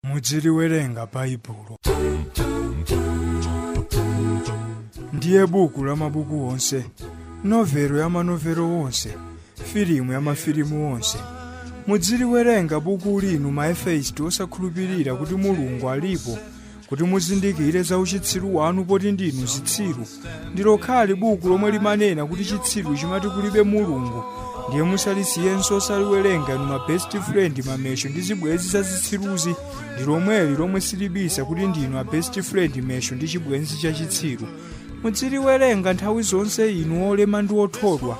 mudziliwerenga baibulo ndiye buku la mabuku onse novelo ya manovelo onse filimu ya mafilimu onse mudziliwerenga buku linu ma efeisti osakhulupirira kuti mulungu alipo kuti muzindikire za uchitsiru wanu poti ndinu zitsiru ndi lokhali buku lomwe limanena kuti chitsiru chimati kulibe mulungu ndiye musalisiyenso osaliwerenga inu ma best friend mamesho ndi zibwenzi za zitsiruzi ndi lomweli lomwe silibisa kuti ndinu a best friend mesho ndi chibwenzi cha chitsiru mudziliwerenga nthawi zonse inu olema ndi othodwa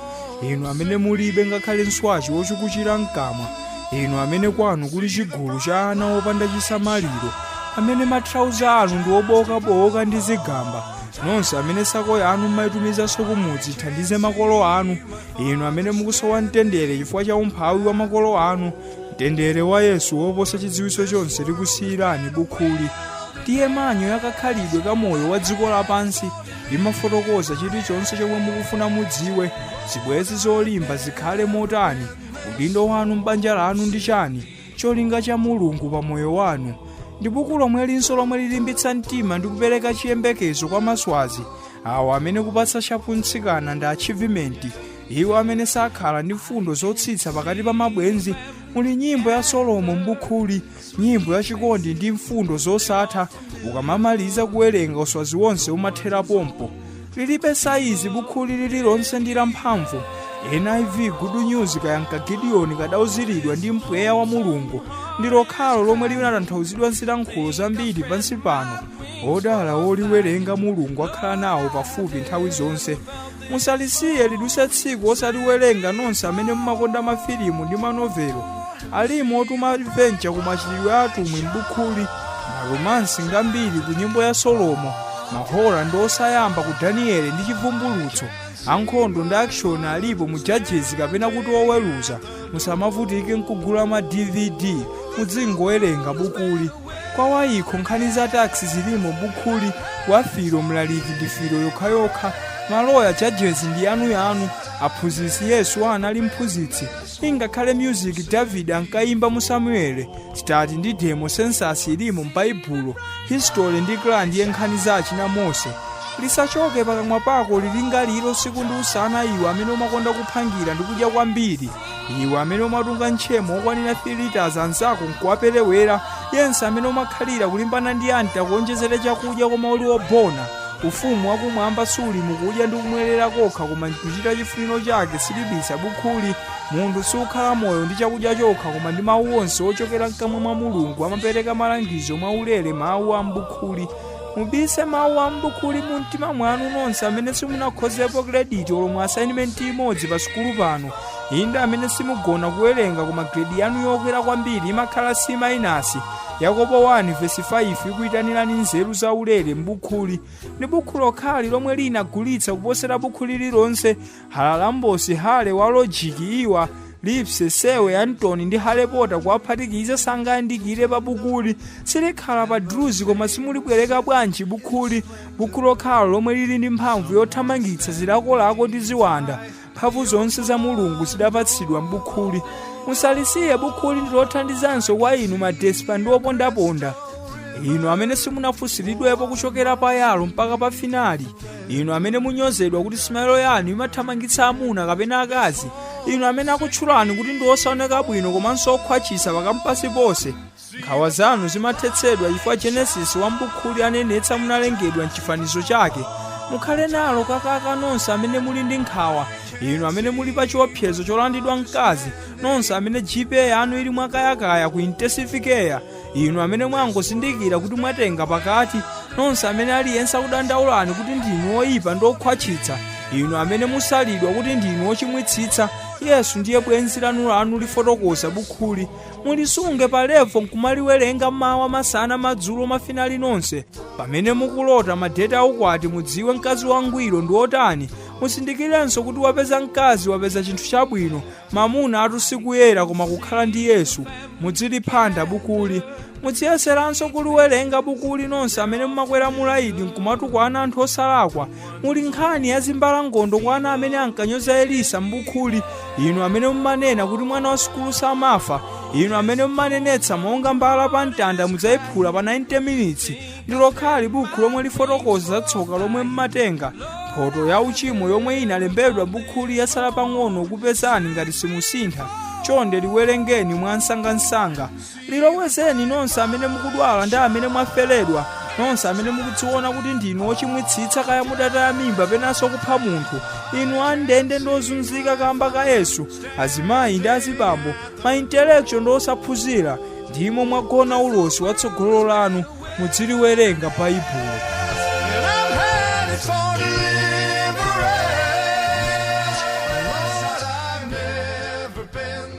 inu amene mulibe ngakhale nswachi wochukuchira mkamwa inu amene kwanu kuli chigulu cha ana opanda chisamaliro amene matrauza anu ndi obowokabowoka ndi zigamba nonse amene sako yanu mmaitumizanso kumudzi ithandize makolo anu inu amene mukusowa mtendere chifukwa cha umphawi wa makolo anu mtendere wa yesu woposa chidziwitso chonse likusiyirani bukhuli ndiye manyo yakakhalidwe ka moyo wa dziko lapansi limafotokoza chilichonse chomwe mukufuna mudziwe zibwenzi zolimba zikhale motani udindo wanu m'banja lanu ndi chani cholinga cha Mulungu pa moyo wanu ndi buku lomwelinso lomwe lilimbitsa mtima ndi kupereka chiyembekezo kwa maswazi awo amene kupatsa shapu mtsikana ndi achievement iwo amene sakhala ndi mfundo zotsitsa pakati pa mabwenzi muli nyimbo ya solomo mbukhuli nyimbo ya chikondi ndi mfundo zosatha ukamamaliza kuwerenga uswazi wonse umathera pompo Lilibe saizi bukhuli lililonse ndi lamphamvu. NIV Good News kaya nka Gideoni kadauziridwa ndi mpweya wa Mulungu ndi lokhalo lomwe linatanthauzidwa m'zilankhulo zambiri pansi pano. Odala oliwerenga Mulungu akhala nawo pafupi nthawi zonse. Musalisiye lidutse tsiku osaliwerenga nonse amene mumakonda mafilimu ndi manovelo. Alimo otuma adventure ku machitidwe a atumwi m'bukhuli, maromansi ngambiri ku nyimbo ya Solomo, ma horror ndi osayamba ku Daniele ndi Chivumbulutso, ankhondo ndi action alipo mu Judges kapena kuti oweruza. Musamavutike nkugula ma DVD, mudzingowerenga bukuli. Kwa wa eco nkhani za tax zilimo m'bukhuli, wa filo mlaliki ndi filo yokhayokha, maloya judges ndi yanuyanu, aphunzitsi Yesu anali mphunzitsi, ingakhale music david ankayimba mu samueli stati ndi demo census ilimo m'baibulo history ndi kra ndiye nkhani za achina mose lisachoke pakamwa pako lilingalire usiku ndi usana iwe amene umakonda kuphangira ndi kudya kwambiri iwe amene umatunga ntchemo okwanira 3 liters anzako nkuwaperewera yense amene umakhalira kulimbana ndi anti akuonjezere chakudya koma uli wobona Ufumu wa Kumwamba suli mu kudya ndi kumwelera kokha koma m'kuchita chifuniro chake, silibisa bukhuli. Munthu sukhala moyo ndi chakudya chokha koma ndi Mawu onse ochokera mkamwa mwa Mulungu, amapereka malangizo mwa ulere Mawu a m'bukhuli. Mubise Mawu a m'bukhuli mu mtima mwanu nonse amene simunakhozepo krediti olo mu assignment imodzi pa sukulu pano, inde amene simugona kuwerenga koma gredi yanu yokwera kwambiri imakhala C mainasi, Yakobo 1 vesi 5 ikuitanirani nzeru zaulere m'bukhuli. Ndi bukhu lokhali lomwe linagulitsa kuposera bukhu lililonse, Halalambosi, Hale wa lojiki, Iwa, Lipse, Sewe, Antoni ndi Hale Pota kuwaphatikiza sangayandikire pa bukuli. Silikhala pa druzi koma simulibwereka bwanji bukhuli. Bukhu lokhalo lomwe lili ndi mphamvu yothamangitsa zilakolako ndi ziwanda. mphamvu zonse za mulungu zidapatsidwa m'bukhuli musalisiye bukhuli ndilothandizanso kwa inu madespa ndi opondaponda inu amene simunafunsiridwepo kuchokera pa yalo mpaka pa finali inu amene munyozedwa kuti simayelo yanu imathamangitsa amuna kapena akazi inu amene akutchulani kuti ndi osaoneka bwino komanso okhwachisa pakampasi ponse nkhawa zanu zimathetsedwa chifukwa genesis wa mbukhuli anenetsa munalengedwa mchifanizo chake mukhale nalo kakaka nonse amene muli ndi nkhawa inu amene muli pa chiopsezo cholandidwa mkazi nonse amene gpa yanu ili mwakayakaya ku intensifikeya inu amene mwangozindikira kuti mwatenga pakati nonse amene aliyense akudandaulani kuti ndinu oyipa ndi okhwatchitsa inu amene musalidwa kuti ndinu ochimwitsitsa yesu ndiye bwenzi lanu lanu lifotokoza bukhuli mulisunge pa levo nkumaliwerenga mawa masana madzulo mafinali nonse pamene mukulota madeti aukwati mudziwe mkazi wangwiro ndi otani musindikirenso kuti wapeza mkazi wapeza chinthu chabwino mamuna atusikuyera koma kukhala ndi yesu mudziliphanda bukuli mudziyeseranso kuliwerenga bukuli nonse amene mumakwera mulaidi nkumatukwana anthu osalakwa muli nkhani ya zimbalangondo kwa ana amene ankanyoza elisa m'bukhuli inu amene mumanena kuti mwana wa sukulu samafa inu amene mumanenetsa monga mbala pa mtanda mudzayiphula pa 90 minutes ndi lokhali bukhu lomwe lifotokoza za tsoka lomwe mumatenga mphoto ya uchimo yomwe inalembedwa bukhuli yatsala pang'ono kupezani ngati simusintha chonde liwerengeni mwansangansanga lilowezeni nonse amene mukudwala ndi amene mwaferedwa nonse amene mukudziona kuti ndinu ochimwitsitsa kaya mudataya mimba penanso kupha munthu inu andende ndi ozunzika kamba ka yesu azimayi ndi azibambo maintelektual ndi osaphunzira ndimo mwagona ulosi wa tsogolo lanu mudziliwerenga baibulo And I'm headed for deliverance. Lord, I've never been